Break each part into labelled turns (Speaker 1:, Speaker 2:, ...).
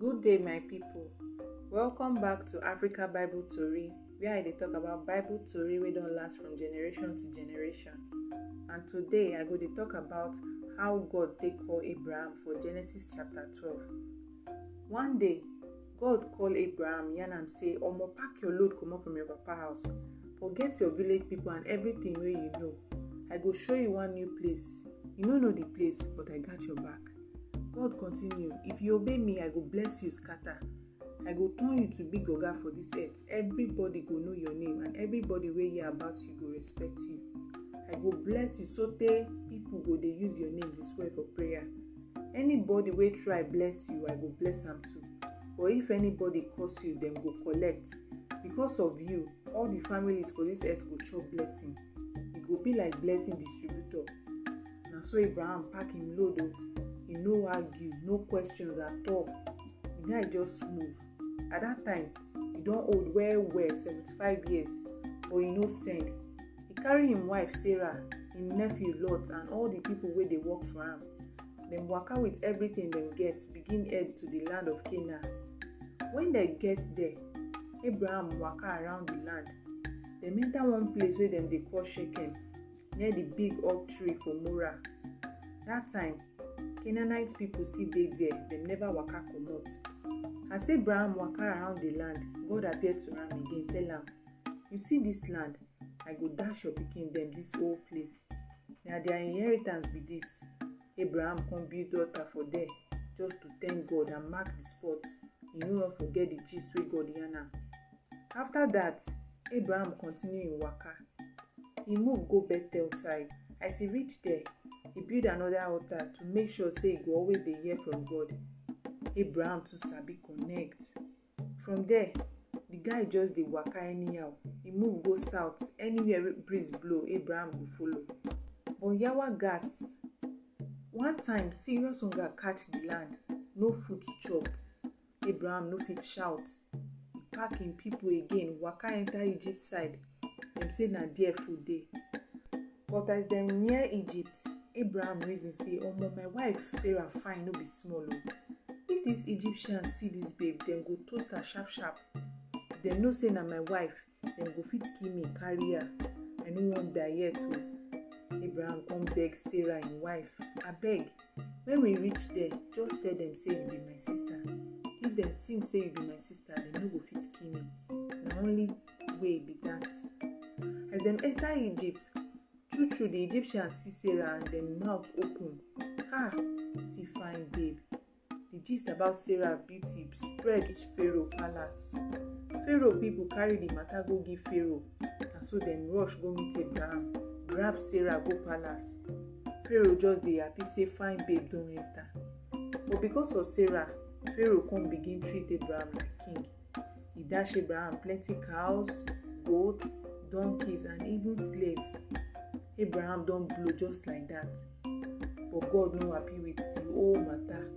Speaker 1: Good day, my people. Welcome back to Africa Bible Tori, where I dey talk about Bible Tori wey don last from generation to generation. And today I go dey talk about how God take call Abraham for Genesis chapter 12. One day, God call Abraham, yarn am say, Omo, pack your load comot from your papa house. Forget your village people and everything wey you know. I go show you one new place. You no know the place, but I got your back. God continue, if you obey me, I go bless you scatter. I go turn you to big oga for this earth. Everybody go know your name and everybody wey hear about you go respect you. I go bless you sotey people go dey use your name dey swear for prayer. Anybody wey try bless you, I go bless am too. But if anybody curse you, dem go collect. Because of you, all the families for this earth go chop blessing. E go be like blessing distributor. Na so Abraham pack him load o. E no argue, no questions at all. The guy just move. at that time he don old well well seventy-five years but he no send he carry him wife sarah him nephew lot and all the people wey dey work for am dem waka with everything dem get begin head to the land of canaan when dem get there abraham waka around the land dem enter one place wey dem dey call shechem near the big oak tree for Mora. That time, Canaanite people still dey there, dem never waka comot. As Abraham waka around the land, God appear to am again, tell am, You see this land? I go dash your pikin dem this whole place. Na their inheritance be this. Abraham come build altar for there just to thank God and mark the spot. He no wan forget the gist wey God yarn am. After that, Abraham continue im waka. He move go Bethel side. As he reach there, he build another altar to make sure say he go always dey hear from God. Abraham too sabi connect. From there, the guy just dey waka anyhow. He move go south. Anywhere wey breeze blow, Abraham go follow. But Yawa gas. One time, serious hunger catch the land. No food to chop. Abraham no fit shout. He pack him people again, waka enter Egypt side. dem say na there food dey. But as dem near Egypt, Abraham reason say, Omo, my wife Sarah fine no be small o. If dis Egyptians see dis babe, dem go toast her sharp sharp. If dem know say na my wife, dem go fit kill me carry her. I no wan die yet o. Abraham come beg Sarah im wife, Abeg, when we reach there, just tell dem say you be my sister. If dem think say you be my sister, dem no go fit kill me. Na only way be that. As dem enter Egypt, true true the Egyptians see Sarah and dem mouth open. Ah, see fine babe. The gist about Sarah beauty spread reach Pharaoh palace. Pharaoh people carry the matter go give Pharaoh and so dem rush go meet Abraham, grab Sarah go palace. Pharaoh just dey happy say fine babe don enter. But because of Sarah, Pharaoh come begin treat Abraham like king. E dash Abraham plenty cows, goats, donkeys, and even slaves. Abraham don blow just like that. But God no happy with the whole matter.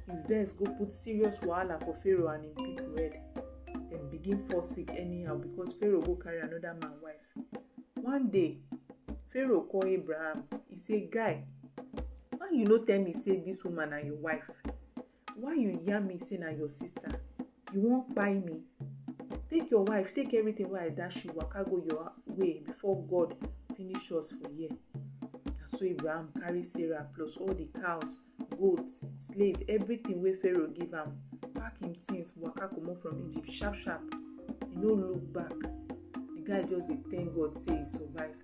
Speaker 1: He vex go put serious wahala for Pharaoh and him people head. Dem begin fall sick anyhow because Pharaoh go carry another man wife. One day, Pharaoh call Abraham. He say, Guy, why you no tell me say this woman na your wife? Why you yarn me say na your sister? You wan kpai me? Take your wife, take everything wey I dash you waka go your way before God finish us for here. Na so Abraham carry Sarah plus all the cows, goats, slave, everything wey Pharaoh give am, pack him things waka comot from Egypt sharp sharp. He no look back. The guy just dey thank God say he survive.